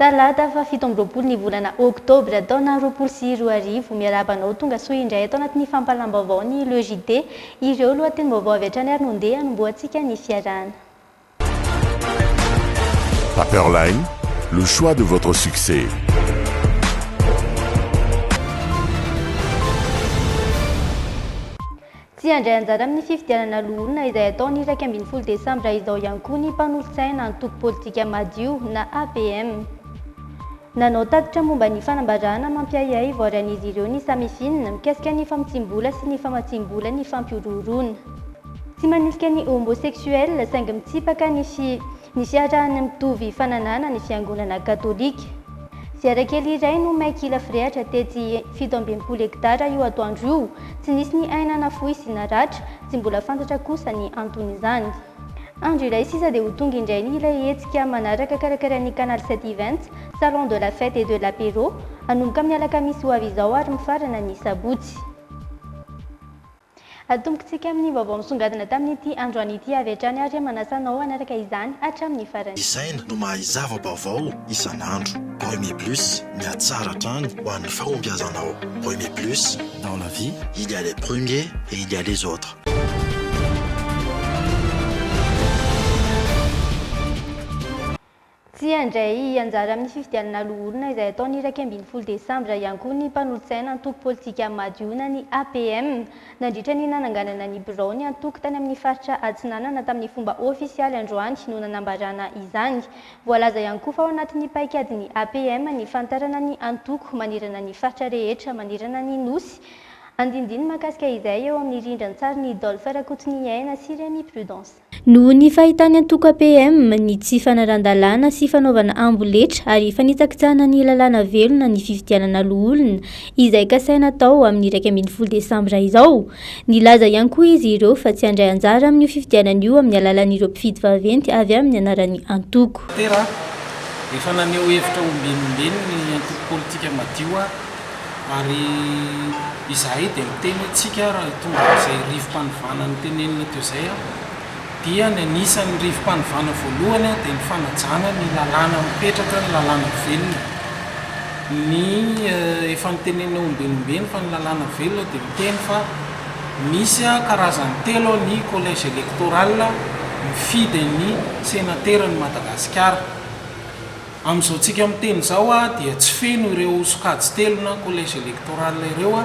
Talata faha fito amby roapolo ny volana oktobra taona roapolo sy roa arivo. Miarahaba anao tonga soa indray ato anatin'ny fampahalam-baovaon'ny Le JT. Ireo lohatenim-baovao avy hatrany ary no ndeha hanombohantsika ny fiarahana. Paperline, le choix de votre succès. Tsy handray anjara amin'ny fifidianana loholona izay hatao ny iraika ambin'ny folo desambra izao ihany koa ny mpanolotsaina antoko politika madio na APM. Nanao tatitra momba ny fanambarana mampiahiahy ivoarian'izy ireo ny Samifin mikasika ny famotsiam-bola sy ny famatsiam-bola ny fampihorohoroana. Tsy manilika ny homosexuel saingy mitsipaka ny fi ny fiarahan'ny mitovy fananahana ny fiangonana katolika. Ziara kely iray no may kila firehatra tetsy fito amby enimpolo hektara io atoandro io. Tsy nisy ny aina nafoy sy naratra, tsy mbola fantatra kosa ny anton'izany. Andro iray sisa dia ho tonga indray ny ilay hetsika manaraka karakarain'ny Canal 7 Events, Salon de la Fête et de l'Apéro, hanomboka amin'ny alakamisy ho avy izao ary mifarana ny sabotsy. Atombokantsika amin'ny vaovao misongadina tamin'ity androany ity avy hatrany ary manasa anao hanaraka izany hatramin'ny farany. Isaina no mahay zava-baovao isan'andro. Remy Plus, mihatsara hatrany ho an'ny fahombiazanao. Remy Plus, dans la vie, il y a les premiers et il y a les autres. Tsy handray anjara amin'ny fifidianana loholona izay hatao ny iraika ambin'ny folo desambra ihany koa ny mpanolotsaina antoko politika Madihona ny APM. Nandritra ny nananganana ny biraon'ny antoko tany amin'ny faritra Atsinanana tamin'ny fomba ofisialy androany no nanambarana izany. Voalaza ihany koa fa ao anatin'ny paikadin'ny APM ny fanitarana ny antoko manerana ny faritra rehetra manerana ny Nosy Andinindiny mahakasika izay eo amin'ny rindran-tsarin'i Dolph Rakotoniaina sy Rémi Prudence. Noho ny fahitan'ny antoko APM ny tsy fanarahan-dalàna sy fanaovana amboletra ary fanitsakitsahana ny lalàna velona ny fifidianana loholona izay kasaina hatao amin'ny iraika ambin'ny folo desambra izao. Nilaza ihany koa izy ireo fa tsy handray anjara amin'io fifidianana io amin'ny alalan'ireo mpifidy vaventy avy amin'ny anaran'ny antoko. Efa naneho hevitra ombieny ombieny ny antoko politika Madio aho. Ary izahay dia miteny hoe tsika ary hitondra an'izay rivo-panovana notenenina teo izay aho dia ny anisan'ny rivo-panovana voalohany aho dia ny fanajana ny lalàna mipetraka ny lalàna velona ny efa notenenina ombinombieny fa ny lalàna velona dia miteny fa misy a karazany telo aho ny collège électoral mifidy ny senateran'i Madagasikara Amin'izao tsika miteny izao dia tsy feno ireo sokajy telo na collège électoral ireo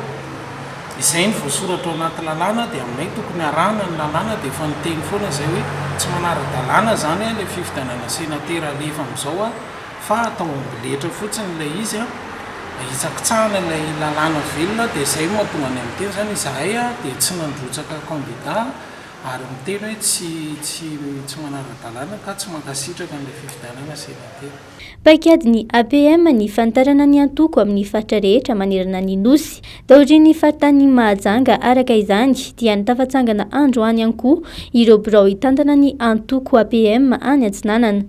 izay ny voasoratra ao anaty lalàna dia aminay tokony harahana ny lalàna dia efa niteny foana izay hoe tsy manara-dalàna izany ilay fifidianana sénateur alefa amin'izao fa atao amboletra fotsiny ilay izy ahitsakitsahana ilay lalàna velona dia izay no mahatonga anay miteny izany izahay dia tsy nandrotsaka candidat Ary miteny hoe tsy tsy tsy manara-dalàna ka tsy mankasitraka an'ilay fifidianana senatera. Paikadin'ny APM ny fanitarana ny antoko amin'ny faritra rehetra manerana ny Nosy. Taorian'ny faritanin'i Mahajanga araka izany dia ny tafatsangana androany ihany koa ireo birao hitantana ny antoko APM any Atsinanana.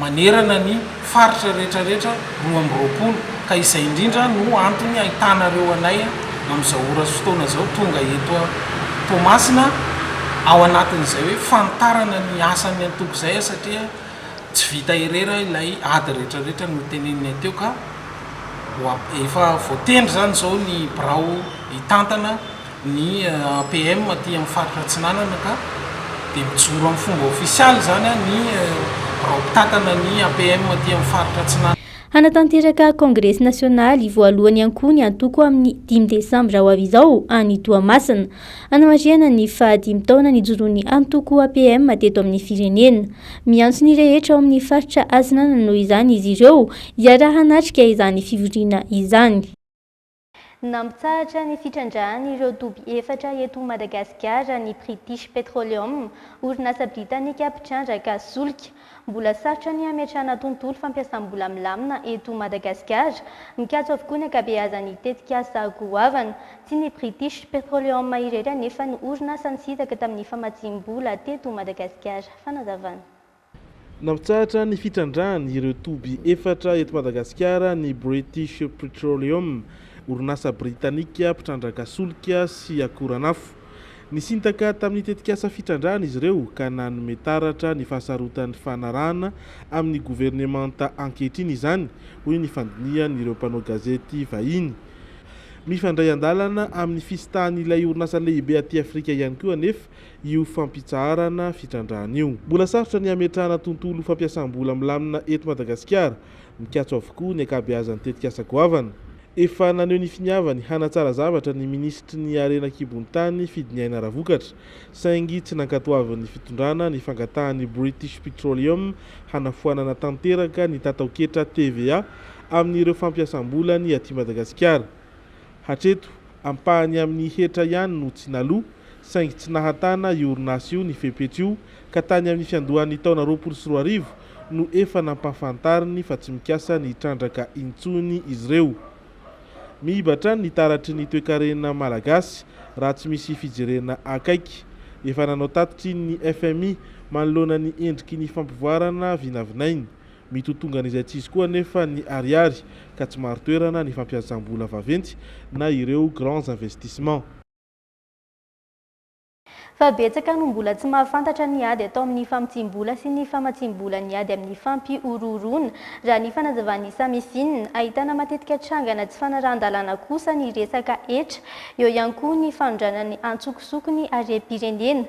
manerana ny faritra rehetra rehetra roa amby roapolo ka izay indrindra no antony ahitanareo anay amin'izao ora sy fotoana izao tonga eto Toamasina ao anatin'izay hoe fanitarana ny asan'ny antoko izay satria tsy vita irera ilay ady rehetra rehetra noteneninay teo ka efa voatendry izany izao ny birao hitantana Ny APM aty amin'ny faritra Atsinanana ka dia mijoro amin'ny fomba ofisialy izany ny birao mpitantana ny APM aty amin'ny faritra Atsinanana. Hanatanteraka kongresy nasionaly voalohany ihany koa ny antoko amin'ny dimy desambra ho avy izao any Toamasina, hanamarihana ny faha dimy taona nijoroan'ny antoko APM teto amin'ny firenena. Miantso ny rehetra ao amin'ny faritra Atsinanana noho izany izy ireo hiara-hanatrika izany fivoriana izany. Nampitsahatra ny fitrandrahan'ireo toby efatra eto Madagasikara ny British Petroleum, orinasa britanika mpitrandraka solika. Mbola sarotra ny hametrahana tontolo fampiasam-bola milamina eto Madagasikara. Mikatso avokoa ny ankabeazan'ny tetikasa goavana. Tsy ny British Petroleum irery anefa no orinasa nisintaka tamin'ny famatsiam-bola teto Madagasikara. Fanazavana. Nampitsahatra ny fitrandrahany ireo toby efatra eto Madagasikara ny British Petroleum, orinasa britanika mpitrandranka solika sy akoranafo. Nisintaka tamin'ny tetikasa fitrandrahana izy ireo ka nanome taratra ny fahasarotan'ny fanarahana amin'ny governemanta ankehitriny izany, hoy ny fandinihan'ireo mpanao gazety vahiny. Mifandray an-dalana amin'ny fisitahan'ilay orinasa lehibe aty Afrika ihany koa anefa io fampitsaharana fitrandrahana io. Mbola sarotra ny hametrahana tontolo fampiasam-bola milamina eto Madagasikara. Mikatso avokoa ny ankabeazan'ny tetikasa goavana. Efa naneho ny finiavany hanatsara zavatra ny minisitry ny harena an-kibon'ny tany Fidiniaina Ravokatra, saingy tsy nankatoavin'ny fitondrana ny fangatahan'ny British Petroleum hanafoanana tanteraka ny tataoketra TVA amin'ireo fampiasam-bolany aty Madagasikara. Hatreto, ampahany amin'ny hetra ihany no tsy naloa, saingy tsy nahatana io orinasa io ny fepetra io ka tany amin'ny fiandohan'ny taona roapolo sy roa arivo no efa nampahafantariny fa tsy mikasa ny hitrandraka intsony izy ireo. Miiba hatrany ny taratry ny toekarena malagasy raha tsy misy fijerena akaiky. Efa nanao tatitra iny ny fmi manoloana ny endriky ny fampivoarana vinavinainy. Mitotongan'izay tsy izy koa anefa ny ariary ka tsy marin-toerana ny fampiasam-bola vaventy na ireo grands investissements. Fa betsaka no mbola tsy mahafantatra ny ady atao amin'ny famotsiam-bola sy ny famatsiam-bola ny ady amin'ny fampihorohoroana, raha ny fanazavan'i Samesin. Ahitana matetika trangana tsy fanarahan-dalàna kosa ny resaka hetra, eo ihany koa ny fanondranan'ny antsokosoko ny harem-pirenena.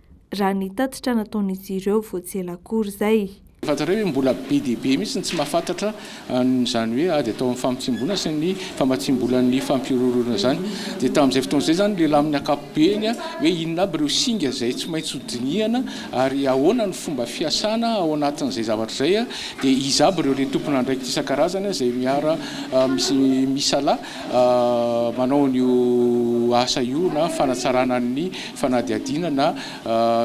raha ny tatitra nataon'izy ireo vao tsy ela akory izay. Fantatrareo ve mbola be dia be mihitsy ny tsy mahafantatra an'izany hoe ady atao amin'ny famotsiam-bola sy ny famatsiam-bolan'ny fampihorohoroana izany? Dia tamin'izay fotoana izay izany lehilahy amin'ny ankapobeny hoe inona aby ireo singa izay tsy maintsy ho dinihana ary ahoana ny fomba fiasana ao anatin'izay zavatra izay dia iza aby ireo le tompon'andraikitra isan-karazany izay miara misalahy manao an'io asa io na fanatsarana ny fanadihadiana na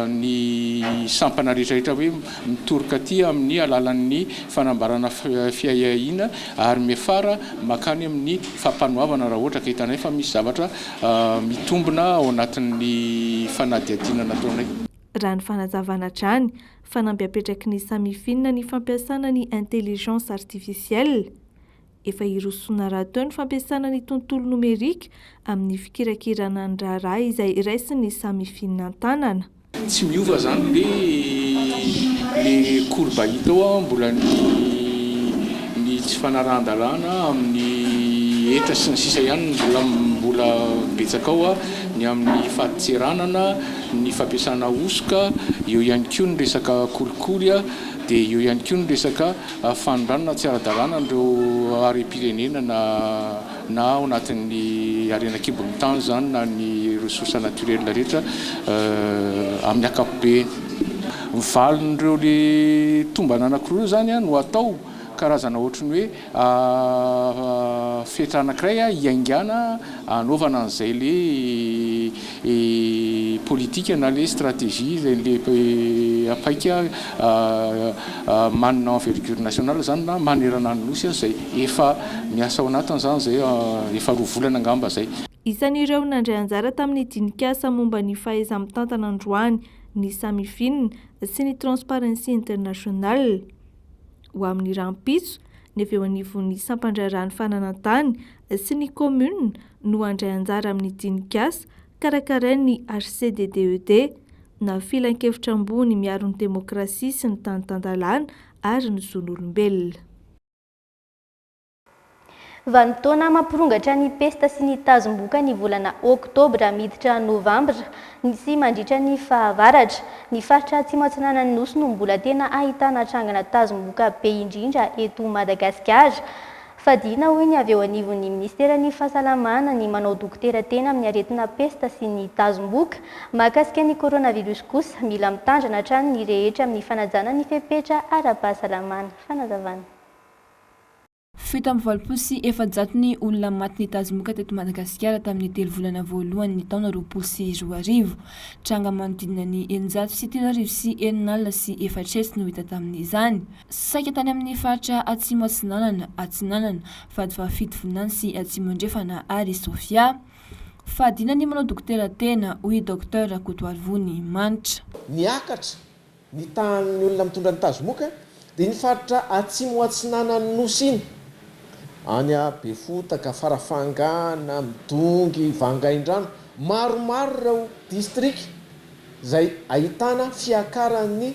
ny sampana rehetrarehetra hoe mitory katy amin'ny alalan'ny fanambarana fiahiahiana ary miafara mankany amin'ny fampanoavana raha ohatra ka hitanay fa misy zavatra mitombina ao anatin'ny fanadihadiana nataonay. Raha ny fanazavana hatrany, fanamby apetraky ny Samifin ny fampiasana ny intelligence artificielle, Efa hirosoana rahateo ny fampiasana ny tontolo nomerika amin'ny fikirakirana ny raharaha izay raisin'ny samy fihinantanana. Tsy miova zany le le courbe hita ao an, mbola ny ny tsy fanarahan-dalàna amin'ny hetra sy ny sisa ihany no mbola mbola betsaka ao an, ny amin'ny fadin-tseranana, ny fampiasana hosoka, eo ihany koa ny resaka kolikoly an, dia eo ihany koa ny resaka. Fanondranana tsy ara-dalàna an'ireo harem-pirenena na na ao anatin'ny harena an-kibon'ny tany izany na ny ressources naturelles rehetra amin'ny ankapobeny. Ny valin'ireo le tombana anankiroa eo izany no atao karazana ohatry ny hoe fetra anankiray hiaingàna hanaovana an'izay le politika na le stratégie zay le paika manina envergure nationale zany na manerana ny Nosy zay efa miasa ao anatiny zany zay efa roa volana angamba zay. Isan'ireo nandray anjara tamin'ny dinikasa momba ny fahaiza-mitantana androany ny Samifin sy ny Transparency International. Ho amin'ny rahampitso, ny avy eo anivon'ny sampandraharahan'ny fananantany sy ny Commune no handray anjara amin'ny dinik'asa karakarain'ny HCDDED, na Filankevitra Ambony Miaro ny Demokrasia sy ny Tany Tan-dalàna ary ny Zon'olombelona. Vanim-potoana mampirongatra ny pesta sy ny tazom-boka ny volana oktobra miditra novambra sy mandritra ny fahavaratra. Ny faritra Atsimo Atsinanan'ny Nosy no mbola tena ahitana trangana tazom-boka be indrindra eto Madagasikara. Fadiana, hoy ny avy eo anivon'ny minisiteran'ny Fahasalamana, ny manao dokotera tena amin'ny aretina pesta sy ny tazom-bohoka. Mahakasika ny coronavirus kosa, mila mitandrina hatrany ny rehetra amin'ny fanajana ny fepetra ara-pahasalamana. Fanazavana. Fito amby valopolo sy efajato ny olona maty nitazomoka teto Madagasikara tamin'ny telo volana voalohan'ny taona roapolo sy roa arivo. Tranga manodidina ny eninjato sy telo arivo sy enina alina sy efatra hetsy no hita tamin'izany. Saika tany amin'ny faritra Atsimo Atsinanana, Atsinanana, Vadivavy-Fito Vinany sy Atsimo Andrefana ary Sofia. Fahadiana ny manao dokotera tena, hoy i Docteur Rakotoarivony Manitra. Niakatra ny tahan'ny olona mitondra ny tazomoka dia iny faritra Atsimo Atsinanan'ny Nosy iny, any Befotaka, Farafangana, Midongy, Vangaindrano, maromaro ireo distrika izay ahitana fiakaran'ny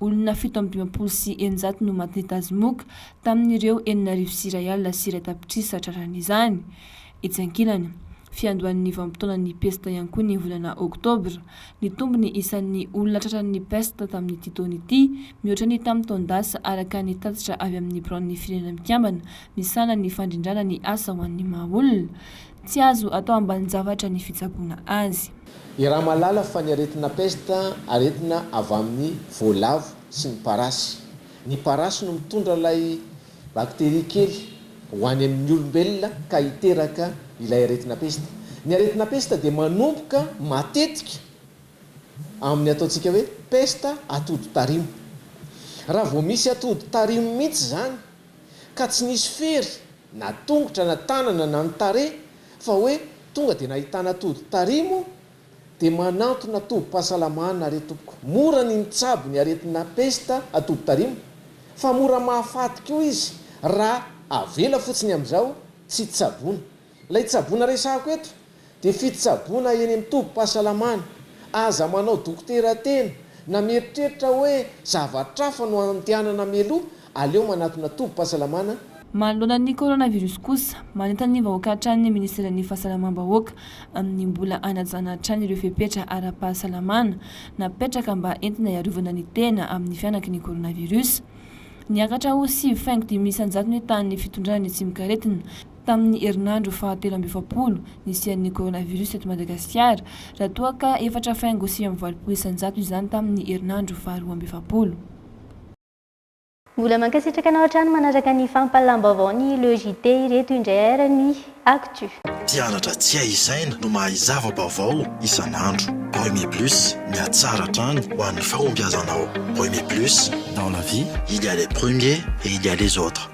Olona fito amby dimampolo sy eninjato no matin'ny tazomoka tamin'ireo enina arivo sy iray alina sy iray tapitrisa traran'izany. Etsy ankilany, fiandohan'ny vanim-potoanan'ny pesta ihany koa ny volana oktobra. Nitombo ny isan'ny olona tratran'ny pesta tamin'ity taona ity, mihoatra ny tamin'ny taon-dasa, araka ny tatitra avy amin'ny biraon'ny Firenena Mikambana misahana ny fandrindràna ny asa ho an'ny maha-olona. Tsy azo atao ambanin-javatra ny fitsaboana azy. Iaraha mahalala fa ny aretina pesta aretina avy amin'ny voalavo sy ny parasy. Ny parasy no mitondra ilay bakteria kely ho any amin'ny olombelona ka hiteraka ilay aretina pesta. Ny aretina pesta dia manomboka matetika amin'ny ataontsika hoe pesta atody tarimo. Raha vao misy atody tarimo mihitsy izany, ka tsy nisy fery na tongotra na tanana na ny tarehy fa hoe tonga dia nahitana tody tarehy moa dia manantona tobim-pahasalamana re tompoko mora ny mitsabo ny aretina pesta atody tarimo fa mora mahafaty koa izy raha avela fotsiny amin'izao tsy tsaboina Ilay tsaboina resahako eto dia fitsaboina eny amin'ny tobim-pahasalamana. Aza manao dokotera tena na mieritreritra hoe zavatra hafa no andehanana mialoha, aleo manatona tobim-pahasalamana. Manoloana ny coronavirus kosa, manentana ny vahoaka hatrany ny Ministeran'ny Fahasalamam-bahoaka amin'ny mbola hanajana hatrany ireo fepetra ara-pahasalamana napetraka mba entina hiarovana ny tena amin'ny fihanaky ny coronavirus. Niakatra ho sivy faingo dimy isan-jato ny tahan'ny fitondrana ny tsimokaretina Tamin'ny herinandro fahatelo amby efapolo nisian'ny coronavirus eto Madagasikara, raha toa ka efatra faingo sivy amby valopolo isan-jato izany tamin'ny herinandro faharoa amby efapolo. Mbola mankasitraka anao hatrany manaraka ny fampahalam-baovao ny Le JT ireto indray ary ny Actu. Mpianatra tsy hay isaina no mahay zava-baovao isan'andro. Remy Plus, mihatsara hatrany ho an'ny fahombiazanao. Remy Plus, dans la vie, il y a les premiers et il y a les autres.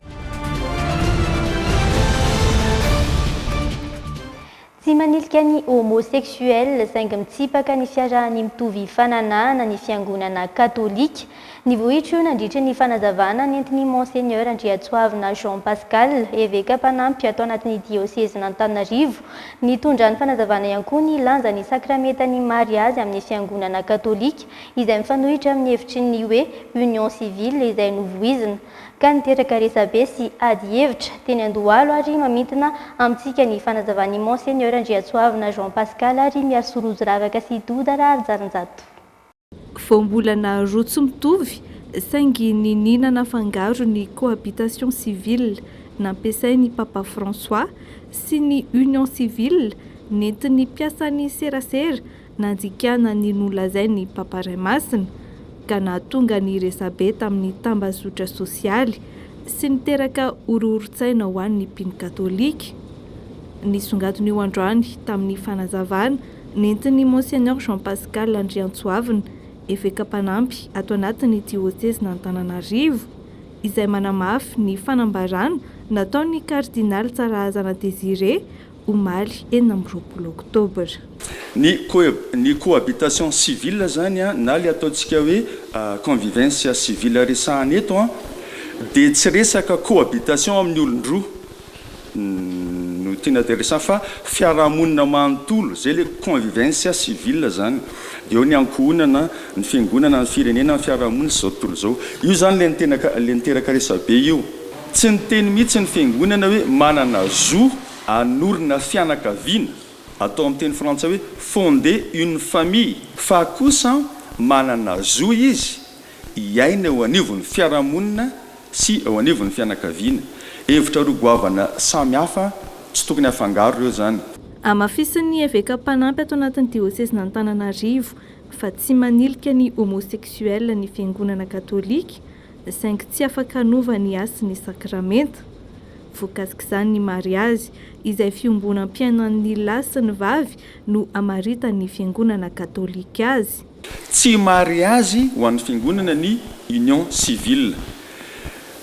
Tsy manilika ny homosexuels saingy mitsipaka ny fiarahan'ny mitovy fananahana ny fiangonana katolika. Ny vohitra io nandritry ny fanazavana nentin'i Monseigneur Andriatsoavina Jean Pascal, eveka mpanampy ato anatin'ny diosezin'Antananarivo. Nitondra ny fanazavana ihany koa ny lanjan'ny sakramentan'ny mariazy amin'ny fiangonana katolika izay mifanohitra amin'ny hevitry ny hoe union civile izay novoizina. ka niteraka resabe sy ady hevitra teny Andohalo ary mamintina amintsika ny fanazavan'ny Monseigneur Andriatsoavina Jean Pascal ary Miasoa Rojoravaka sy Doda Raharijalinjato. Voambolana roa tsy mitovy saingy niniana nafangaro ny cohabitation civile nampiasain'i Papa François sy ny union civile nentin'ny mpiasan'ny serasera Nandikana ny nolazain' i Papa Ray Masina ka nahatonga ny resabe tamin' ny tambazotra sôsialy sy niteraka horohoron-tsaina ho an' ny mpino katôlika. Nisongadina io androany tamin' ny fanazavana nentin' i Monseigneur Jean Pascal Andriantsoavina, eveka mpanampy ato anatin' ny diôsezin' Antananarivo, izay manamafy ny fanambarana nataon' ny kardinaly Tsarahazana Désiré, omaly enina amby roapolo oktobra. Ny ny cohabitation civile zany an, na le ataontsika hoe convivencia civile resahana eto an, dia tsy resaka cohabitation amin'ny olon-droa no tiana de resahana fa fiarahamonina manontolo, zay le convivencia civile zany, de eo ny ankohonana, ny fiangonana, ny firenena, ny fiarahamonina sy zao tontolo zao. Io zany le tena le miteraka resabe io. Tsy niteny mihitsy ny fiangonana hoe manana zo hanorina fianakaviana, atao amin'ny teny frantsay hoe fonder une famille, fa kosa manana zo izy hiaina eo anivon'ny fiarahamonina sy eo anivon'ny fianakaviana. Hevitra roa goavana samy hafa, tsy tokony afangaro ireo izany. Hamafisin'ny eveka mpanampy ato anatin'ny diosezin'Antananarivo fa tsy manilika ny homosexuel ny fiangonana katolika, saingy tsy afaka hanova ny hasiny ny sakramenta. Voakasik'izany ny mariazy, izay fiombonam-piainan'ny lahy sy ny vavy no amaritan'ny Fiangonana Katolika azy. Tsy mariazy ho an'ny Fiangonana ny union civile.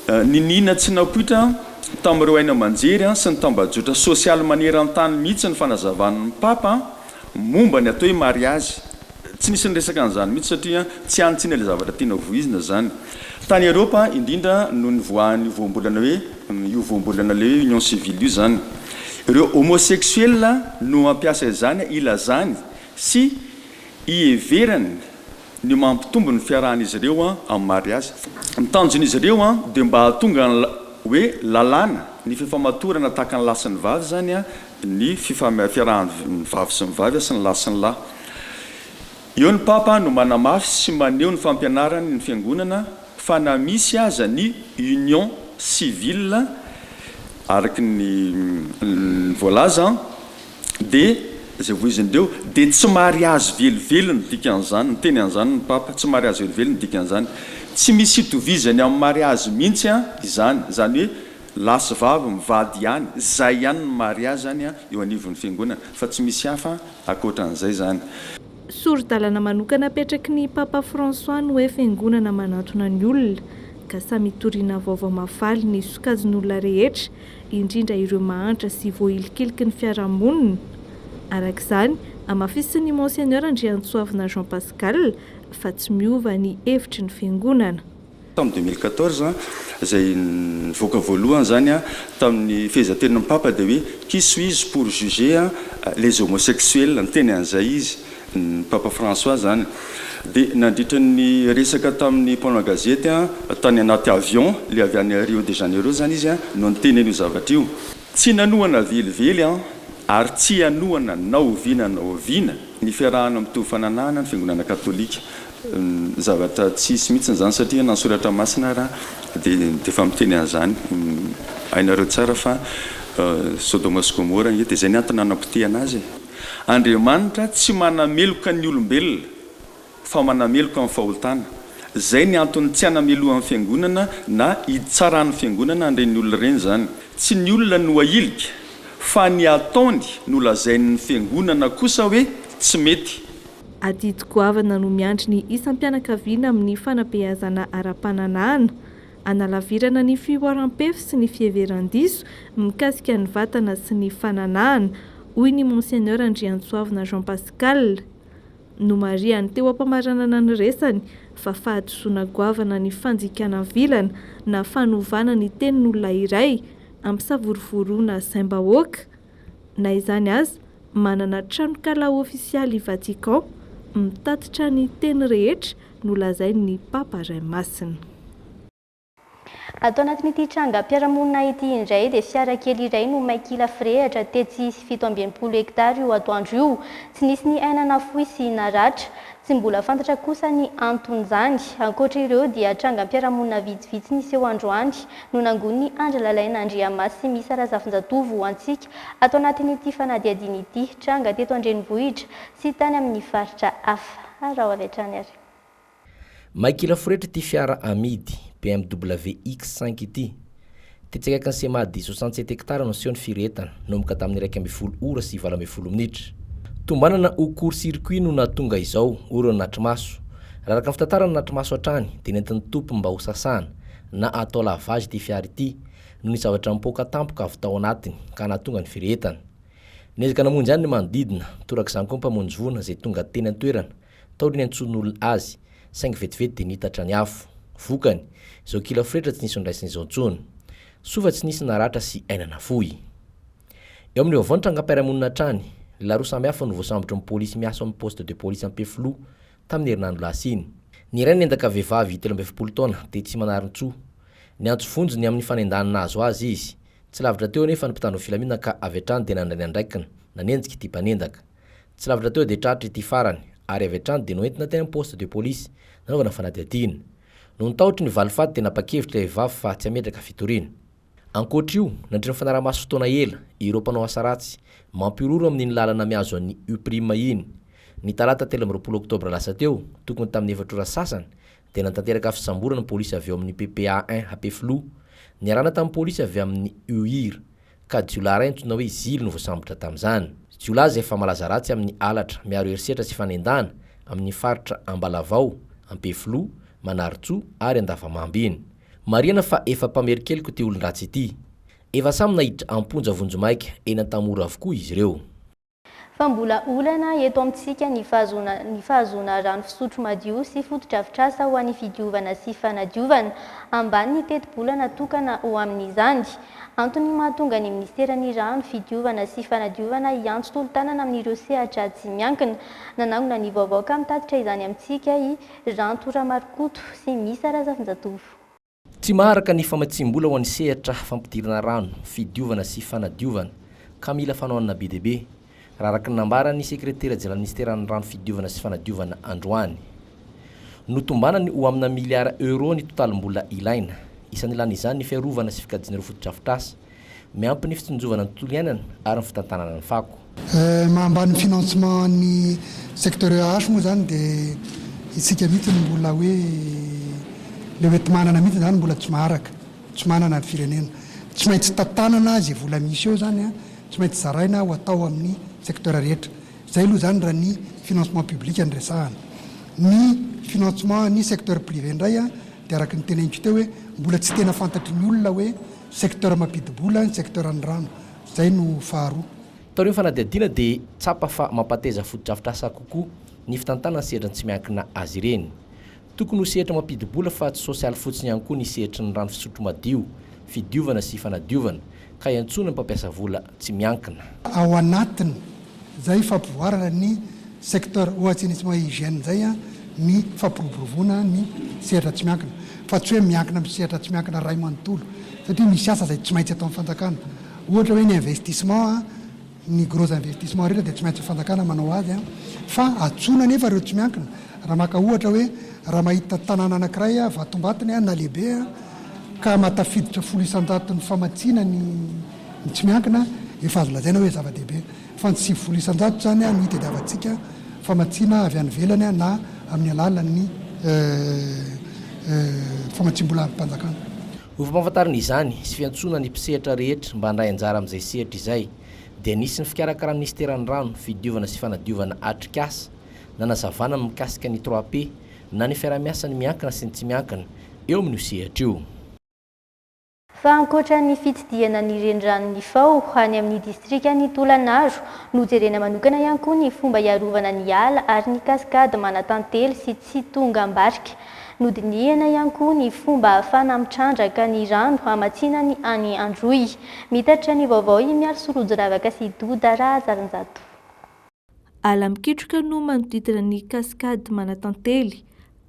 Niniana tsy napoitra tamin'ireo haino aman-jery sy ny tambajotra sosialy maneran-tany mihitsy ny fanazavan'ny Papa Momba ny atao hoe mariazy, tsy nisy niresaka an'izany mihitsy satria tsy any Tsina ilay zavatra tiana voizina izany. Tany Eropa, indrindra no nivoahan'io voambolana hoe io voambolana ilay hoe union civile io izany. Ireo homosexuels no mampiasa izany hilazany sy hiheverany ny mampitombo ny fiarahan'izy ireo amin'ny mariazy. Ny tanjon'izy ireo dia mba hahatonga ny hoe lalàna ny fifamatorana tahaka ny lahy sy ny vavy izany ny fifahampiarahan ny vavy sy ny vavy sy ny lahy sy ny lahy. Eo ny Papa no manamafy sy maneho ny fampianaran ny Fiangonana fa na misy aza ny union civile araka ny ny voalaza dia izay voizin dreo dia tsy mariazy velively ny dikan izany, niteny an izany ny Papa, tsy mariazy velively ny dikan izany. Tsy misy itovizany amin ny mariazy mihitsy izany, izany hoe, Lahy sy vavy mivady ihany, zay ihany ny mariazy zany an, eo anivon'ny fiangonana, fa tsy misy hafa akoatran'izay zany. Sori-dalana manokana apetraky ny Papa François ny hoe fiangonana manatona ny olona, ka samy hitoriana vaovao mahafaly ny sokajin'olona rehetra, indrindra ireo mahantra sy voahilikiliky ny fiarahamonina. Araka izany, hamafisin'ny Monseigneur Andriantsoavina Jean Pascal fa tsy miova ny hevitry ny fiangonana. tamin'ny deux mille quatorze izay nivoaka voalohany izany tamin'ny fehezantenin'ny Papa dia hoe Qui suis-je pour juger les homosexuels? niteny an'izay izy, ny Papa François izany. Dia nandritra ny resaka tamin'ny mpanao gazety tany anaty avion ilay avy any Rio de Janeiro izany izy no niteny an'io zavatra io. Tsy nanohana velively aho ary tsy hanohana na oviana na oviana ny fiarahana mitovy fananahana ny Fiangonana Katolika. Zavatra tsisy mihitsiny zany satria na soratra masina ara de efa miteny an'izany hainareo tsara fa sodoma sy gomora ange de zay ny antony nanapotehana azy e! Andriamanitra tsy manameloka ny olombelona fa manameloka ny fahotana zay ny antony tsy hanamelohan'ny fiangonana na hitsaran'ny fiangonana an'ireny olona ireny zany tsy ny olona no ahilika fa ny ataony no lazain'ny fiangonana kosa hoe tsy mety Adidy goavana no miandry ny isam-pianakaviana amin'ny fanabeazana ara-pananahana. Analavirana ny fihoaram-pefy sy ny fiheveran-diso mikasika ny vatana sy ny fananahana, hoy ny Monseigneur Andriantsoavina Jean Pascal. Nomarihany teo am-pamaranana ny resany fa fahadisoana goavana ny fanjikana vilana na fanovana ny tenin'olona iray ampisavorovoroana saim-bahoaka, Na izany aza, manana tranonkala ofisialy i Vatican mitatitra ny teny rehetra nolazain'ny Papa Ray Masina. Ato anatin'ity trangam-piarahamonina ity indray dia fiara kely iray no may kila firehatra tetsy sy fito amby enimpolo hektara io atoandro io. Tsy nisy ny aina nafoy sy naratra. Tsy mbola fantatra kosa ny anton'izany. Ankoatra ireo dia trangam-piarahamonina vitsivitsy niseho androany no nangonin'i Andry Lalaina Andriamasimiisa Razafinjatovo ho antsika ato anatin'ity fanadihadiana ity, tranga teto an-drenivohitra sy tany amin'ny faritra hafa. Araho avy hatrany ary. May kila foretra ity fiara amidy, BMW X cinq ity. Tetsy akaikin'ny CMA dia soixante sept hectares no niseho ny firy entana, nomboka tamin'ny iraika ambin'ny folo ora sy valo ambin'ny folo minitra. Tombanana ho court circuit no nahatonga izao, hoy ireo nanatri-maso. Raha araka ny fitantaran'ny nanatri-maso hatrany, dia nentin'ny Topp mba hosasana, na atao lavage ity fiara ity noho ny zavatra nipoaka tampoka avy tao anatiny ka nahatonga ny firehetana. Niezaka namonjy ahy ny manodidina, torak'izany koa ny mpamonjy voina izay tonga teny an-toerana, tao ry ny antsoin'olona azy, saingy vetivety dia niitatra ny afo. Vokany, izao kila fretra tsy nisy nondraisina izao intsony. Soa fa tsy nisy naratra sy aina nafoy. Eo amin'ny vaovao ny trangam-piarahamonina hatrany, lehilahy roa samihafa no voasambotry ny polisy miasa ao amin'ny poste de police Ampefiloha, tamin'ny herinandro lasa iny. Ny iray niendaka vehivavy telo amby efapolo taona, tetsy Manarintsoa. Niantso vonjy ny amin'ny fanendahana nahazo azy izy. Tsy lavitra teo anefa ny mpitandro filaminana ka avy hatrany dia nandray ny andraikiny, nanenjika ity mpanendaka. Tsy lavitra teo dia tratra ity farany ary avy hatrany dia noentina teny amin'ny poste de police nanaovana fanadihadiana. Noho ny tahotry ny valifaty dia nanapa-kevitra ilay vehivavy fa tsy hametraka fitoriana. Ankoatra io, nandritra ny fanarahamaso fotoana ela, ireo mpanao asa ratsy, mampihorohoro amin'iny lalana mihazo an'i Uprima iny. Ny talata telo amby roapolo oktobra lasa teo, tokony tamin'ny efatra ora sasany, dia nanatanteraka fisamborana ny polisy avy ao amin'ny PPA un Hapeflu. Niarahana tamin'ny polisy avy amin'ny UIR, ka jiolahy iray antsoina hoe Zily no voasambotra tamin'izany. Jiolahy izay efa malaza ratsy amin'ny halatra miaro herisetra sy fanendahana, amin'ny faritra Ambalavao, Ampeflo, Manarintsoa ary Andavamamba iny. Marihana fa efa mpamerin-keloka ity olon-dratsy ity. Efa samy naiditra am-ponja vonjimaika eny Antamora avokoa izy ireo. Fa mbola olana eto amintsika ny fahazoana ny fahazoana rano fisotro madio sy fotodrafitrasa ho an'ny fidiovana sy fanadiovana, ambany ny tetibola natokana ho amin'izany. Antony mahatonga ny minisiteran'ny Rano, fidiovana sy fanadiovana hiantso tolo-tanana amin'ireo sehatra tsy miankina. Nanangona ny vaovao ka mitatitra izany amintsika i. Ranto Ramarokoto sy Misa Razafinjatovo. Tsy maharaka ny famatsiam-bola ho an'ny sehatra fampidirana rano, fidiovana sy fanadiovana, ka mila fanohanana be dia be, raha araka ny nambaran'ny sekretera jeneral minisiteran'ny rano fidiovana sy fanadiovana androany. Notombanany ho amina miliara euros ny totalim-bola ilaina. Isan'ilany izany ny fiarovana sy fikajiana ireo fotodrafitrasa Miampy ny fitsinjovana ny tontolo iainana ary ny fitantanana ny fako. Maha ambany ny financement an'ny secteur EAH moa izany dia isika mihitsy no mbola hoe ilay hoenti-manana mihitsy izany mbola tsy maharaka, tsy manana ny firenena. Tsy maintsy tantanana izay vola misy eo izany an, tsy maintsy zaraina ho atao amin'ny secteur rehetra. Izay aloha izany raha ny financement public no resahana. Ny financement an'ny secteur privé indray an dia araka ny teneniko teo hoe mbola tsy tena fantatry ny olona hoe. Secteur mampidi-bola ny secteur ny rano. Izay no faharoa. Tao aorian'ny fanadihadiana dia tsapa fa mampateza fotodrafitrasa kokoa ny fitantanana ny sehatry ny tsy miankina azy ireny. Tokony ho sehatra mampidi-bola fa tsy sosialy fotsiny ihany koa ny sehatry ny rano fisotro madio, fidiovana sy fanadiovana, ka iantsoana ny mpampiasa vola. tsy miankina. Ao anatin izay fampivoarana ny secteur au assainissement et hygiène izay ny fampiroboroboana ny sehatra tsy miankina fa tsy hoe miankina amin'ny sehatra tsy miankina iray manontolo satria misy asa izay tsy maintsy ataon'ny fanjakana ohatra hoe ny investissement ny gros investissement rehetra dia tsy maintsy fanjakana manao azy fa antsoina anefa ireo tsy miankina raha maka ohatra hoe raha mahita tanàna anankiray vatombatiny na lehibe ka matafiditra folo isanjaton'ny famatsiana ny Ny tsy miankina, efa azo lazaina hoe zava-dehibe, fa ny sivifolo isan-jato izany no itadiavantsika famatsiana avy any ivelany na amin'ny alalan'ny famatsiam-bola amim-panjakana. Ho fampahafantarana izany sy fiantsoana ny mpisehatra rehetra mba handray anjara amin'izay sehatra izay, dia nisy ny fikarakaran'ny Minisiteran'ny Rano, Fidiovana sy Fanadiovana atrikasa nanazavana ny mikasika ny trois P na ny fiaraha-miasan'ny miankina sy ny tsy miankina eo amin'io sehatra io. fa ankoatra ny fitsidihana ny reniranon'i Nifao any amin'ny distrikan'i Tolagnaro, nojerena manokana ihany koa ny fomba hiarovana ny ala ary ny cascade manatantely sy tsy tonga am-barika. Nodinihina ihany koa ny fomba ahafana mitrandraka ny rano hamatsinany any Androy. Mitatitra ny vaovao i Mialy Sorojiravaka sy Doda Rahazalinjato. Ala mikitroka no manodidina ny kaskady Manatantely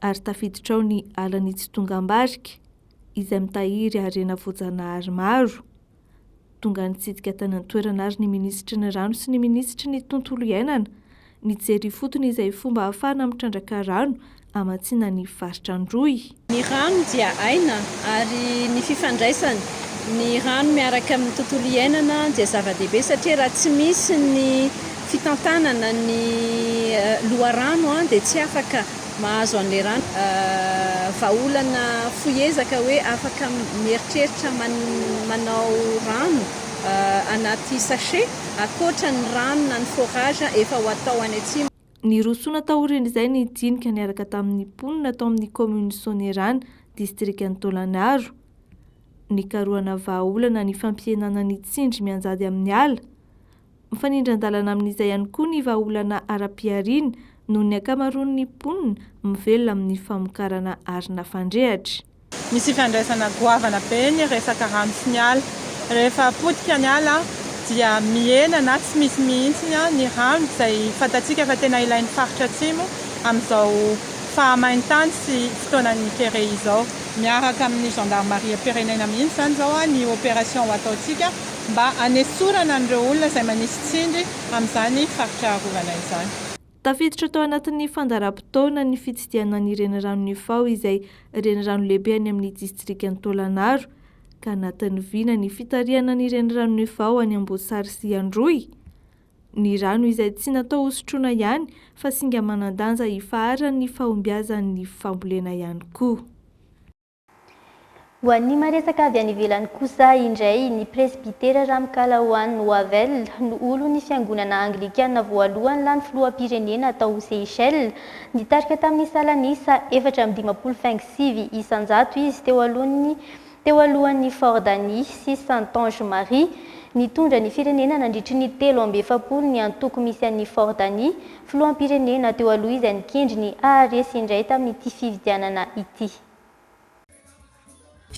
ary tafiditra ao ny alan'i Tsitongambarika izay mitahiry harena voajanahary maro. Tonga nitsidika tany an-toerana ary ny minisitry ny rano sy ny minisitry ny tontolo iainana nijery ifotony izay fomba ahafahana mitrandraka rano hamatsiana ny varotra an-drohy. Ny rano dia aina ary ny fifandraisany ny rano miaraka amin'ny tontolo iainana dia zava-dehibe satria raha tsy misy ny fitantanana ny loharano dia tsy afaka mahazo an'ilay rano. Vahaolana fohy ezaka hoe afaka mieritreritra manao rano anaty sachet ankoatra ny rano na ny forage efa ho atao any atsimo. Nirosoana taorian'izay ny dinika niaraka tamin'ny mponina tao amin'ny kaominina Soanierana, distrikan'i Taolagnaro. Nikarohana vahaolana ny fampihenana ny tsindry mianjady amin'ny ala. Mifanindran-dalana amin'izay ihany koa ny vahaolana ara-pihariana noho ny ankamaroan'ny mponina mivelona amin'ny famokarana arina fandrehatra. Misy ifandraisana goavana be ny resaka rano sy ny ala. Rehefa potika ny ala dia mihena na tsy misy mihitsy ny rano izay fantatsika fa tena ilain'ny faritra atsimo amin'izao fahamain-tany sy fotoanan'ny kere izao. Miaraka amin'ny zandarimariam-pirenena mihitsy izany izao ny opération ataontsika mba hanesorana an'ireo olona izay manisy tsindry amin'izany faritra arovana izany. Tafiditra tao anatin'ny fandaharam-potoana ny fitsidihana ny Reniranon'i Ifao izay renirano lehibe any amin'ny distrikan'i Tôlanaro, ka natanviana ny fitarihana ny Reniranon'i Ifao any Amboasary sy Androy, ny rano izay tsy natao hosotroina ihany fa singa manan-danja hifaharan'ny fahombiazan'ny fambolena ihany koa. Ho an'ny maresaka avy any ivelany kosa indray, ny presbytera Ramkala Oan Wavel no olon'ny fiangonana anglikana voalohany lany filoham-pirenena tao Seychelles. Nitarika tamin'ny salan'isa efatra amby dimampolo faingo sivy isan-jato izy teo alohan'ny teo alohan'i Fordani sy Santange Marie. Nitondra ny firenena nandritry ny telo amby efapolo ny antoko misy an'i Fordani, filoham-pirenena teo aloha izay nikendry ny haharesy indray tamin'ity fifidianana ity.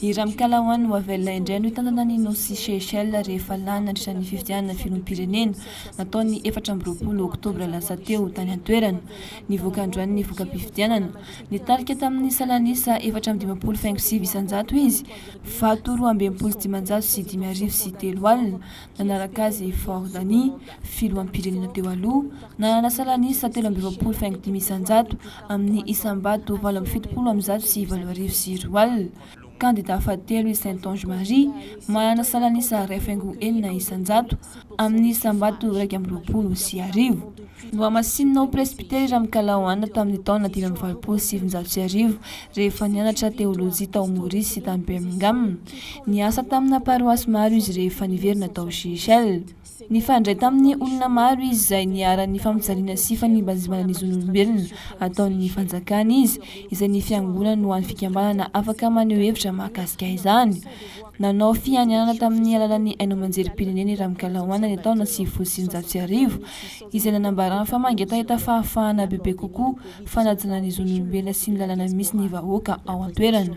I Ramkalawan ho avela indray no hitantana an'i Nosy Seychelles rehefa lany nandritra ny fifidianana filoham-pirenena natao ny efatra amby roapolo oktobra lasa teo tany an-toerana. Nivoaka androany ny voka-pifidianana. Nitarika tamin'ny salan'isa efatra amby dimampolo faingo sivy isan-jato izy, vato roa amby enimpolo sy dimanjato sy dimy arivo sy telo alina. Nanaraka azy i Ford Hani, filoham-pirenena teo aloha, nanana salan'isa telo amby roapolo faingo dimy isan-jato. amin'ny isam-bato valo amby fitopolo amby zato sy valo arivo sy roa alina. Kandidà fahatelo i Saintonge Marie, manana salan'isa iray faingo enina isan-jato, amin'ny isam-bato iraika amby roapolo sy arivo. Nohamasinina ho presbytera i Ramikalaoana tamin'ny taona dimy amby valopolo sy sivinjato sy arivo, rehefa nianatra teolojia tao Maurice sy tany Birmingham. Niasa tamina paroasy maro izy rehefa niverina tao Seychelles. Nifandray tamin'ny olona maro izy izay niharan'ny fampijaliana sy fanimbanzimbana ny zon'olombelona ataon'ny fanjakana izy, izay ny fiangonany ho an'ny fikambanana afaka maneho hevitra mahakasika izany. Nanao fianianana tamin'ny alalan'ny haino aman-jerim-pireneny Ramkalawan ny taona sivifolo sy sivinjato sy arivo, izay nanambarany fa mangetaheta fahafahana bebe kokoa fanajana ny zon'olombelona sy ny lalàna misy ny vahoaka ao an-toerana.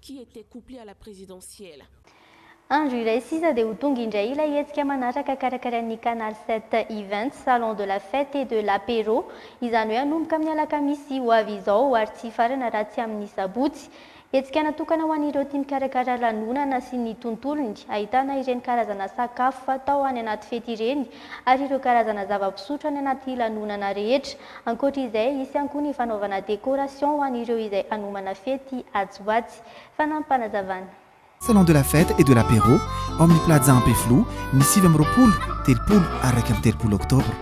Qui était couplé à la présidentielle. Andro iray sisa dia ho tonga indray ilay hetsika manaraka karakarain'ny Canal sept Events, Salon de la Fête et de l'Apéro, izany hoe hanomboka amin'ny alakamisy ho avy izao ary tsy hifarana raha tsy amin'ny sabotsy. Hetsika natokana ho an'ireo tia mikarakara lanonana sy ny tontolony, ahitana ireny karazana sakafo fatao any anaty fety ireny ary ireo karazana zava-pisotro any anaty lanonana rehetra. Ankoatra izay, hisy ihany koa ny fanaovana décoration ho an'ireo izay hanomana fety atsy ho atsy. Fanampim-panazavana. Salon de la fête et de l'apéro ao amin'ny Plaza Ampefiloha ny sivy amby roapolo, telopolo ary iraika amby telopolo oktobra.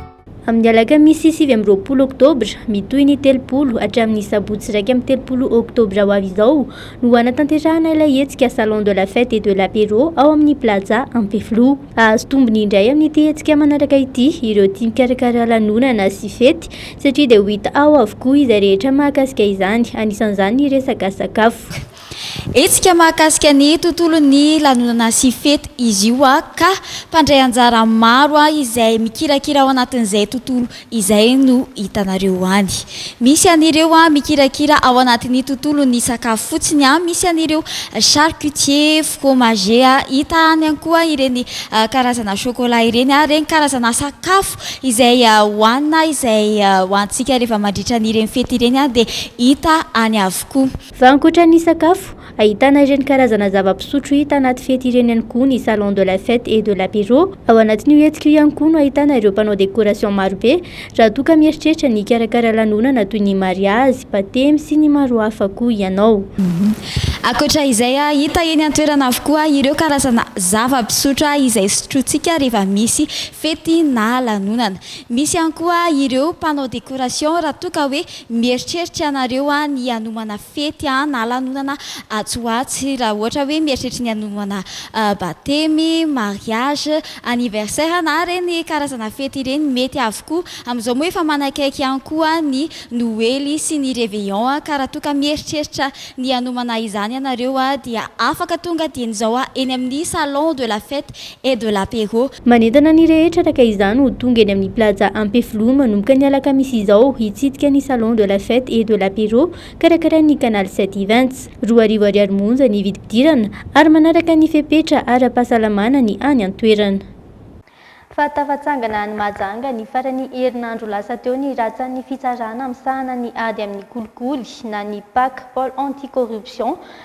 Amin'ny alakamisy sivy amby roapolo oktobra, mitohy ny telopolo hatramin'ny sabotsy iraika amby telopolo oktobra ho avy izao no hanatanterahana ilay hetsika Salon de la fête et de l'apéro ao amin'ny Plaza Ampefiloha. Hahazo tombony indray amin'ity hetsika manaraka ity ireo tia mikarakara lanonana sy fety satria dia ho hita ao avokoa izay rehetra mahakasika izany, anisan'izany ny resaka sakafo. Hetsika mahakasika ny tontolon'ny lanonana sy fety izy io ka mpandray anjara maro izay mikirakira ao anatin'izay tontolo Izay no hitanareo any. Misy an'ireo mikirakira ao anatin'ny tontolon'ny sakafo fotsiny, misy an'ireo charcutier, fromager, hita any ihany koa ireny karazana chocolat ireny, ireny karazana sakafo izay hohanina, izay hohanintsika rehefa mandritra an'ireny fety ireny dia hita any avokoa. Fa ankoatra ny sakafo, ahitana ireny karazana zava-pisotro hita anaty fety ireny ihany koa ny Salon de la Fête et de l'Apéro. Ao anatin'io hetsika io ihany koa no ahitana ireo mpanao décoration marobe raha toa ka mieritreritra ny hikarakara lanonana toy ny mariazy, batemy sy ny maro hafa koa ianao. Ankoatra izay, hita eny an-toerana avokoa ireo karazana zava-pisotro izay sotrointsika rehefa misy fety na lanonana. Misy ihany koa ireo mpanao décoration raha toa ka hoe Mieritreritra ianareo ny hanomana fety na lanonana atsy ho atsy, raha ohatra hoe mieritreritra ny hanomana batemy, mariage, anniversaire na ireny karazana fety ireny, mety avokoa. Amin'izao moa efa manakaiky ihany koa ny noely sy ny réveillon ka raha toa ka mieritreritra ny hanomana izany ianareo dia afaka tonga dieny izao eny amin'ny salon de la fête et de l'apéro. Manentana ny rehetra araka izany ho tonga eny amin'ny Plaza Ampefiloha manomboka ny alakamisy izao hitsidika ny Salon de la Fête et de l'Apéro karakarain'ny Canal sept Events. Roa arivo ariary monja ny vidim-pidirana ary manaraka ny fepetra ara-pahasalamana ny any an-toerana. Fa tafatsangana any Mahajanga ny faran'ny herinandro lasa teo ny rantsan'ny fitsarana misahana ny ady amin'ny kolikoly na ny Pac, Pôle Anti-Corruption,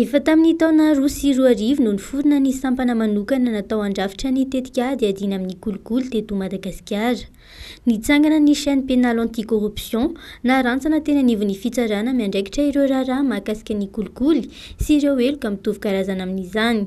Efa tamin'ny taona roa sy roa arivo no niforona ny sampana manokana natao handrafitra ny tetikady hiadiana amin'ny kolikoly teto Madagasikara. Nitsangana ny Chaîne Pénale Anti-Corruption, narantsana teny anivon'ny fitsarana miandraikitra ireo raharaha mahakasika ny kolikoly sy ireo heloka mitovy karazana amin'izany.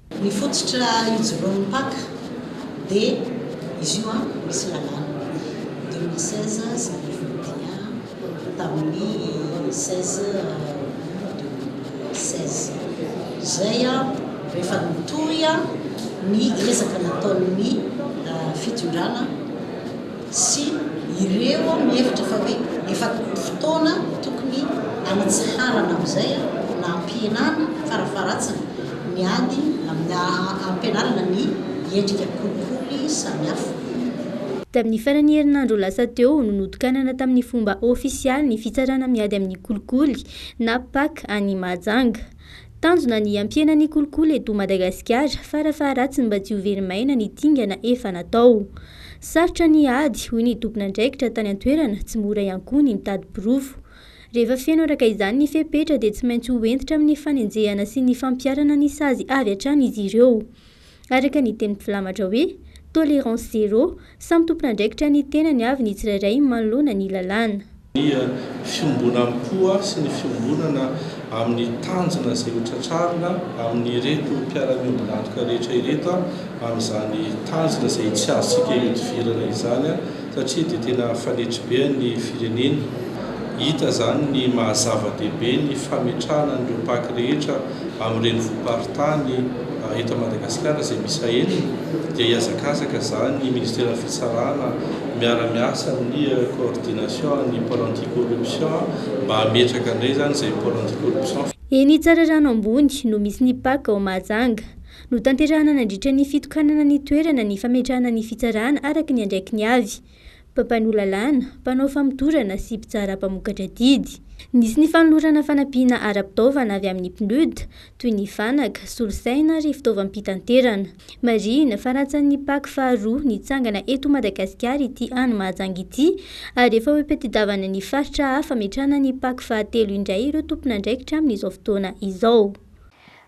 Ny fototra ijoroan'ny mpaka dia izy io an, misy lalàna deux mille seize sy deux mille vingt et un tamin'ny seize aout deux mille seize izay an, rehefa nitohy an ny ezaka nataon'ny fitondrana, sy ireo mihevitra fa hoe efa tokony fotoana tokony hanatsiharana amin'izay na hampihenana farafaharatsiny ny ady amin'ny hampianarana ny endrika kolikoly samihafa. Tamin'ny faran'ny herinandro lasa teo no notokanana tamin'ny fomba ofisialy ny fitsarana miady amin'ny kolikoly na pac any Mahajanga. Tanjona ny hampiena ny kolikoly eto Madagasikara fara faharatsiny mba tsy ho very maina ny dingana efa natao. Sarotra ny ady, hoy ny tompon'andraikitra tany an-toerana, tsy mora ihany koa ny mitady porofo. Rehefa feno araka izany ny fepetra dia tsy maintsy ho hentitra amin'ny fanenjehana sy ny fampiharana ny sazy avy hatrany izy ireo. Araka ny tenin'i Filamatra hoe, Tolérance zéro, samy tompon'andraikitra ny tenany avy ny tsirairay manoloana ny lalàna. Ny fiombonam-po sy ny fiombonana amin'ny tanjona izay hotratrarina amin'ireto mpiara-miombon'antoka rehetra ireto amin'izany tanjona izay tsy azontsika ihodivirana izany satria dia tena fanetribe an'ny firenena. Hita izany ny maha-zava-dehibe ny fametrahana an'ireo Pac rehetra Amin'ny renivohi-paritany eto Madagasikara izay miisa enina dia hiazakazaka izany ny Ministeran'ny Fitsarana miara-miasa amin'ny Coordination ny Pole Anti-Corruption mba hametraka indray izany izay Pole Anti-Corruption. Eny Tsararano Ambony no misy ny pac ao Mahajanga. Notanterahana nandritra ny fitokanana ny toerana ny fametrahana ny fitsarana araka ny andraikiny avy. mpampanoa lalàna, mpanao famotorana sy mpitsara mpamokatra didy. Nisy ny fanolorana fanampiana ara-pitaovana avy amin'ny PNUD, toy ny fanaka, solosaina ary fitaovam-pitanterana. Marihina fa rantsan'ny Pac faharoa nitsangana eto Madagasikara ity any Mahajanga ity ary efa ho ipetedavana ny faritra hafa hametrahana ny Pac fahatelo indray ireo tompon'andraikitra amin'izao fotoana izao.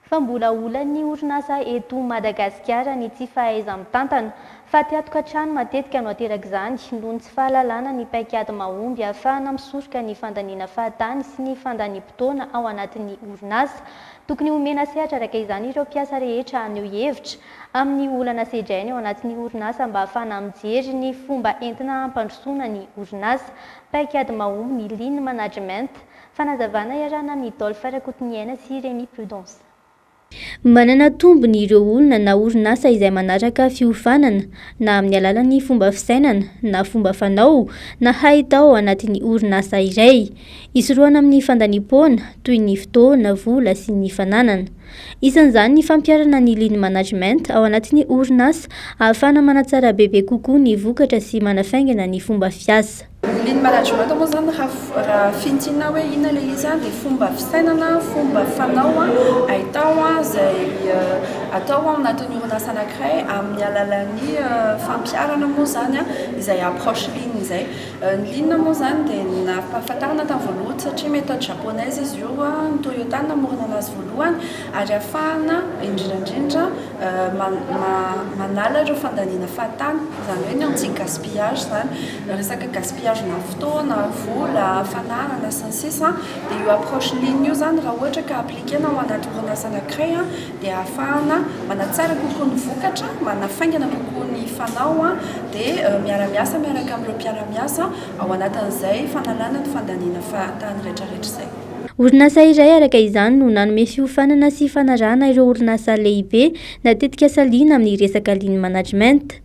fa mbola olan'ny orinasa eto Madagasikara ny tsy fahaiza-mitantana, fa tiatokantrano matetika no aterak'izany noho ny tsy fahalalana ny paikady mahomby ahafahana misoroka ny fandaniana fahatany sy ny fandaniam-potoana ao anatin'ny orinasa. Tokony homena sehatra araka izany ireo mpiasa rehetra haneho hevitra amin'ny olana sedrainy ao anatin'ny orinasa mba hahafahana mijery ny fomba entina hampandrosoana ny orinasa, paikady mahomby ny Lean Management, Fanazavana iarahana amin'i Dolph Rakotoniaina sy Rémi Prudence. Manana tombony ireo olona na orinasa izay manaraka fiofanana na amin'ny alalan'ny fomba fisainana na fomba fanao na hahita ao anatin'ny orinasa iray. Isorohana amin'ny fandaniam-poana, toy ny fotoana, vola sy ny fananana. Isan'izany ny fampiharana ny Lean Management ao anatin'ny orinasa ahafahana manatsara bebe kokoa ny vokatra sy manafaingana ny fomba fiasa. Lily management moa izany raha fintinina hoe inona ilay izy an, dia fomba fisainana, fomba fanao ahitao izay atao ao anatin'ny orinasa anankiray amin'ny alalan'ny fampiharana moa izany izay approche Lily izay. Ny Lily moa izany dia nampahafantarina tamin'ny voalohany satria méthode japonaise izy io, ny Toyota no namorona an'azy voalohany ary ahafahana indrindra indrindra manala ireo fandaniana fahatany, izany hoe ny anti-gaspillage izany. resaka gaspillage na fotoana, vola, fananana sy ny sisa dia io approche lean io izany raha ohatra ka appliquer-na ao anaty orinasa anankiray dia ahafahana manatsara kokoa ny vokatra, manafaingana kokoa ny fanao dia miara-miasa miaraka amin'ireo mpiara-miasa ao anatin'izay fanalana ny fandaniana fahatany retraretra izay. Orinasa iray araka izany no nanome fiofanana sy fanarahana ireo orinasa lehibe na tetikasa lean amin'ny resaka lean management.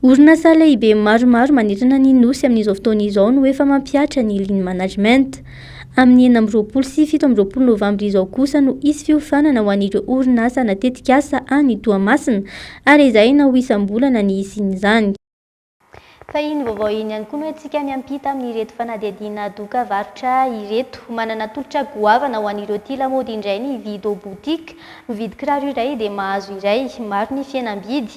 Orinasa lehibe maromaro manerana ny Nosy amin'izao fotoana izao no efa mampihatra ny Lean Management. Amin'ny enina amby roapolo sy fito amby roapolo novambra izao kosa no hisy fiofanana ho an'ireo orinasa na tetikasa any Toamasina ary ezahina ho isam-bolana ny hisian'izany. Fa iny vaovao iny ihany koa no entintsika miampita amin'ireto fanadihadiana doka varotra ireto. Manana tolotra goavana ho an'ireo tia lamaody indray ny Vido Boutique. Mividy kiraro iray dia mahazo iray. Maro ny fihenam-bidy.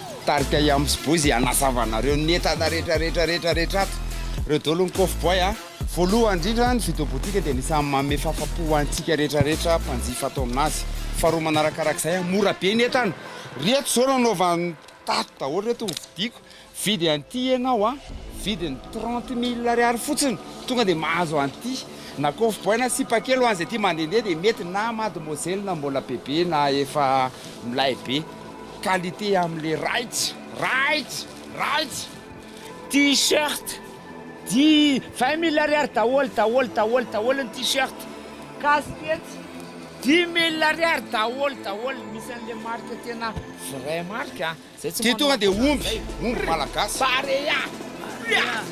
Tarika Yams Boys hanazava anareo ny entana rehetra rehetra rehetra rehetra ato. Ireo daholo ny Coffee Boy a. Voalohany indrindra ny Video Boutique dia anisan'ny manome fahafapo ho antsika rehetra rehetra mpanjifa ato amin'azy. Faharoa manarakarak'izay a, mora be ny entana. Ireto izao no anaovan'ny tato daholo ireto hovidiako. Mividy an'ity ianao a, vidiny trente mille ariary fotsiny tonga dia mahazo an'ity. Na Coffee Boy na sipa kely ho an'izay tia mandehandeha dia mety na mademoiselle na mbola bebe na efa milay be. Qualité amle raits raits raits t-shirt di vingt mille ariary daholo daholo daholo daholo ny t-shirt casquette dimy mille ariary daholo daholo misy anle marque tena vrai marque a zay tsy manao tonga de omby omby malagasy barea barea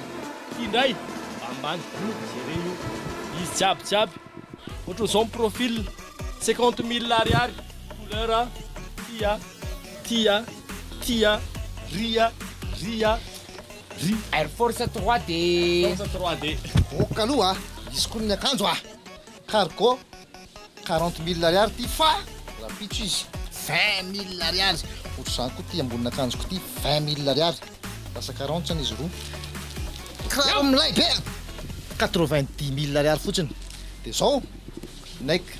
ty ndray ambany bory jereo io izy jiaby jiaby ohatran'izao ny profil cinquante mille ariary Couleur a, tia, tia, tia, ria, ria, ri. Air Force 3D. Force 3D. Ok aloha a, hisy koa ny akanjo a. Cargo, quarante mille ariary ity fa rahampitso izy. Vingt mille ariary. Ohatr'izany koa ity ambonin'akanjoko ity, vingt mille ariary. Lasa quarante zany izy roa. Kiraro milay be a, quatre-vingt-dix mille ariary fotsiny. Dia izao, Nike.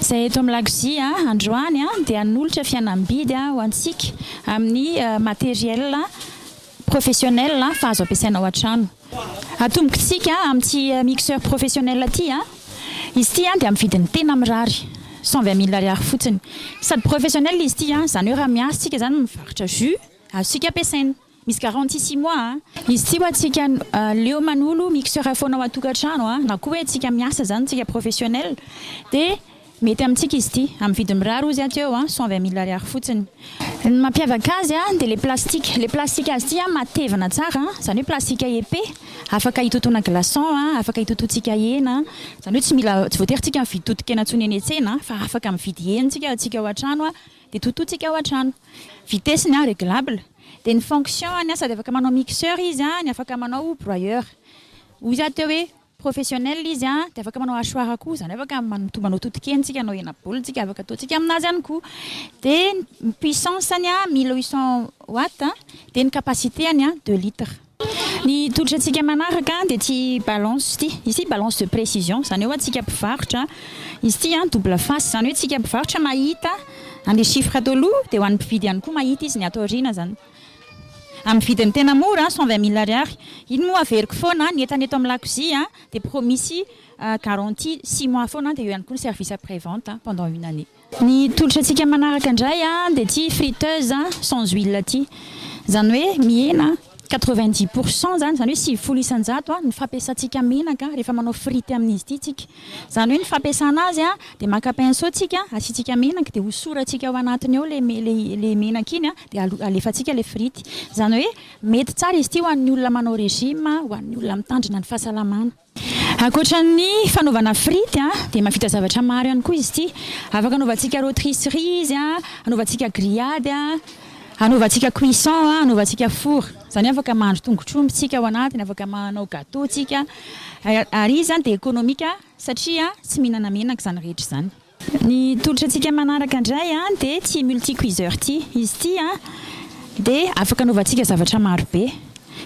izay eto amin'ny lakozia androany dia hanolotra fihenam-bidy ho antsika amin'ny matériel professionnel fa azo ampiasaina ao an-trano. Atombokintsika amin'ity mixeur professionnel ity, izy ity dia amin'ny vidiny tena mirary, cent vingt mille ariary fotsiny. Sady professionnel izy ity, izany hoe raha miasa isika izany mivarotra jus, azontsika ampiasaina. Misy garantie six mois a. Izy tsy ho antsika leo manolo mixeur foana ao an-tokantrano a, na koa hoe tsika miasa izany tsika professionnel dia mety amintsika izy ity, amin'ny vidiny mirary hozy aty eo a, cent vingt mille ariary fotsiny. Ny mampiavaka azy a, dia ilay plastique, ilay plastique azy ity a matevina tsara a, izany hoe plastique épais, afaka hitotoana glaçon a, afaka hitotoantsika hena a, izany hoe tsy mila, tsy voatery tsika mividy totokena intsony eny an-tsena a, fa afaka mividy hena tsika ao an-tsika ao an-trano a, dia totointsika ao an-trano. Vitesse-ny a réglable. Dia ny fonction any sady afaka manao mixeur izy an, ny afaka manao broyeur. Hoy za teo hoe professionnel izy an, dia afaka manao hachoir koa, izany hoe afaka manoto manoto tokeny tsika hanao hena baolina tsika, afaka ataontsika aminazy ihany koa. Dia ny puissance-ny an, mille huit cent watts, dia ny capacité-ny an, deux litres. Ny tolotra antsika manaraka dia ity balance ity. Izy ity balance de précision. Izany hoe antsika mpivarotra, izy ity an double face. Izany hoe antsika mpivarotra mahita an'ilay chiffre ato aloha, dia ho an'ny mpividy ihany koa mahita izy ny ato aoriana izany. Amin'ny vidiny tena mora, cent vingt mille ariary. Iny moa averiko foana, ny entana eto amin'ny lakozia dia promisy garantie six mois foana, dia eo ihany koa ny service après vente pendant une année. Ny tolotra tsika manaraka ndray a de ty friteuse sans huile ty zany hoe mihena quatre-vingt-dix pour cent zany zany hoe sivifolo isanjato ny fampiasantsika menaka rehefa manao frite amin'izy ty tsika zany hoe ny fampiasana azy a de maka pinceau tsika asiantsika menaka de hosoratsika ao anatiny ao le le menaka iny a de alefatsika le frite zany hoe mety tsara izy ty ho an'ny olona manao régime ho an'ny olona mitandrina ny fahasalamana Ankoatra ny fanaovana frity dia mahavita zavatra maro ihany koa izy ity. Afaka anaovantsika rotisserie izy, anaovantsika grillade, anaovantsika cuisson, anaovantsika four. Izany hoe afaka mahandro tongotr'omby isika ao anatiny, afaka manao gateau isika. Ary izy dia ekonomika satria tsy mihinana menaka izany rehetra izany. Ny tolotra antsika manaraka indray dia ity multicuiseur ity. Izy ity dia afaka anaovantsika zavatra maro be.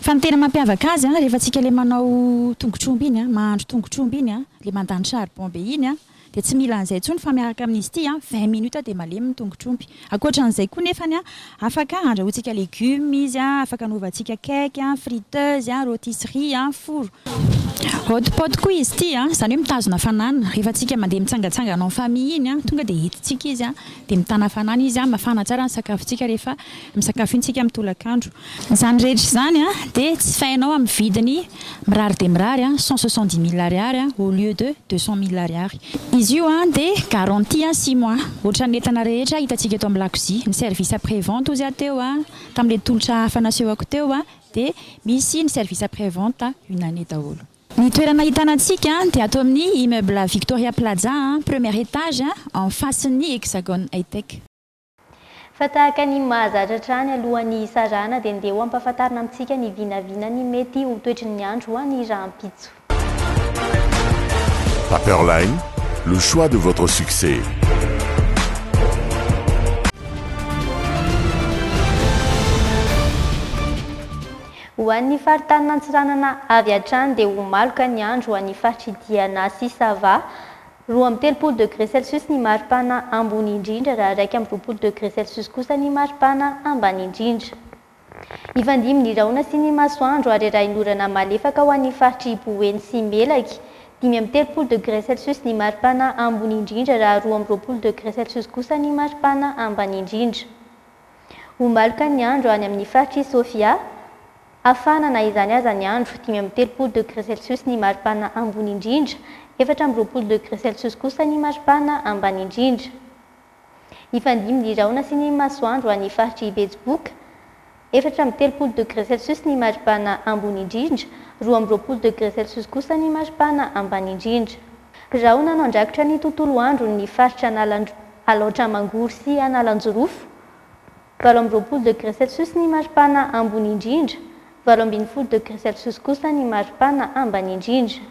Fa ny tena mampiavaka azy rehefa antsika ilay manao tongotr'omby iny, mahandro tongotr'omby iny, ilay mandany charbon be iny dia tsy mila an'izay intsony fa miaraka amin'izy ity vingt minutes dia malemy ny tongotr'omby. Ankoatra an'izay koa nefany, afaka andrahointsika legioma izy, afaka anaovantsika cake, friteuse, rôtisserie, four. Hot pot koa izy ity, izany hoe mitazona hafanana. Rehefa antsika mandeha mitsangatsangana en famille iny, tonga dia entintsika izy dia mitana hafanana izy, mafana tsara ny sakafontsika rehefa misakafo iny isika amin'ny tolakandro. Izany rehetra izany dia jifainao amin'ny vidiny mirary dia mirary, cent soixante-dix mille ariary au lieu de deux cent mille ariary. Izy io dia garantie six mois ohatran'ny entana rehetra hitantsika eto amin'ny lakozia. Ny service après vente ozy teo tamin'ilay tolotra hafa nasehoko teo dia misy ny service après vente une année daholo. Ny toerana ahitana antsika dia ato amin'ny immeuble Victoria Plaza, premier étage, en face-n'ny Hexagone Hightech. Fa tahaka ny mahazatra hatrany alohan'ny hisarahana dia ndeha ho ampahafantarina amintsika ny vinavina ny mety ho toetry ny andro ho any rahampitso. Paperline, le choix de votre succès. Ho an'ny faritanin'Antsiranana avy hatrany dia ho maloka ny andro ho an'ny faritr'i Diana sy Sava. Roa amby telopolo degré Celsius ny maripana ambony indrindra raha iraika amby roapolo degré Celsius kosa ny maripana ambany indrindra. Hifandimby ny rahona sy ny masoandro ary rahin'orana malefaka ho an'ny faritr'i Boeny sy Melaky. Dimy amby telopolo degré Celsius ny maripana ambony indrindra raha roa amby roapolo degré Celsius kosa ny maripana ambany indrindra. Ho maloka ny andro any amin'ny faritr'i Sofia. Hafana na izany aza ny andro, dimy amby telopolo degre celsius ny maripana ambony indrindra, efatra amby roapolo degre celsius kosa ny maripana ambany indrindra. Hifandimby ny rahona sy ny masoandro any faritr'i Betsiboka, efatra amby telopolo degre celsius ny maripana ambony indrindra, roa amby roapolo degre celsius kosa ny maripana ambany indrindra. Birao nanao andrakotra ny tontolo andron' ny faritra Analandr Alaotra Mangoro sy Analanjirofo, valo amby roapolo degre celsius ny maripana ambony indrindra, valo ambin'ny folo degre celsius kosa ny maripana ambany indrindra.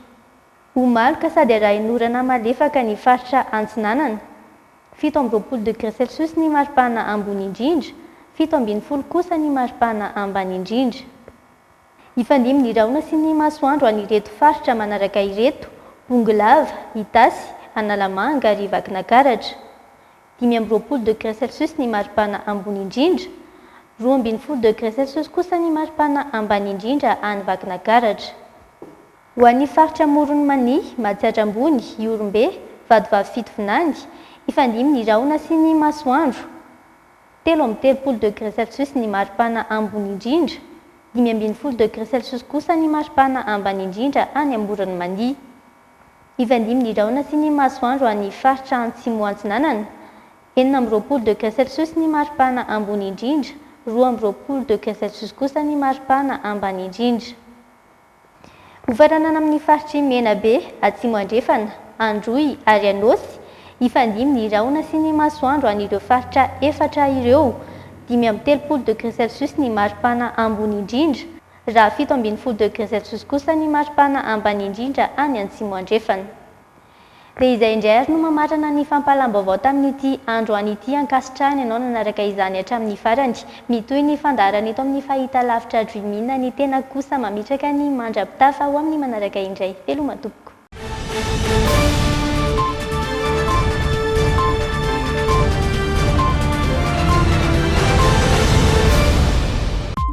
Ho maloka sady arahin' orana malefaka ny faritra Antsinanana, fito amby roapolo degre celsius ny maripana ambony indrindra, fito ambin'ny folo kosa ny maripana ambany indrindra. Hifandimbina ny rahona sy ny masoandro an'ireto faritra manaraka ireto, Bongolava, Itasy, Analamanga ary Vakinakaratra. Dimy amby roapolo degré Celsius ny maripana ambony indrindra. Roa ambin'ny folo degré Celsius kosa ny maripana ambany indrindra any Vakinakaratra. Ho an'ny faritra Amoron'i Mania, Matsiatra Ambony, Ihorombe, Vatovavy Fitovinany, hifandimbina ny rahona sy ny masoandro. telo amby telopolo degré Celsius ny maripana ambony indrindra, dimy ambin'ny folo degré Celsius kosa ny maripana ambany indrindra any Amboron'i Mania. Hifandihy ny rahona sy ny masoandro any faritra Antsimo Antsinanana, enina amby roapolo degré Celsius ny maripana ambony indrindra, roa amby roapolo degré Celsius kosa ny maripana ambany indrindra. Hofaranana amin'ny faritr'i Menabe, Atsimo Andrefana, Androy ary Anôsy hifandimby ny rahona sy ny masoandro an'ireo faritra efatra ireo. Dimy amby telopolo degré Celsius ny maripana ambony indrindra, raha fito ambin'ny folo degré Celsius kosa ny maripana ambany indrindra any Antsimo Andrefana. Dia izay indray ary no mamarana ny fampahalam-baovao tamin'ity andro any ity ankasitrahany ianao nanaraka izany hatramin'ny farany. Mitohy ny fandaharana eto amin'ny Fahitalavitra Dreamina ny tenako kosa mametraka ny mandra-pitafa ho amin'ny manaraka indray. Veloma tompoko.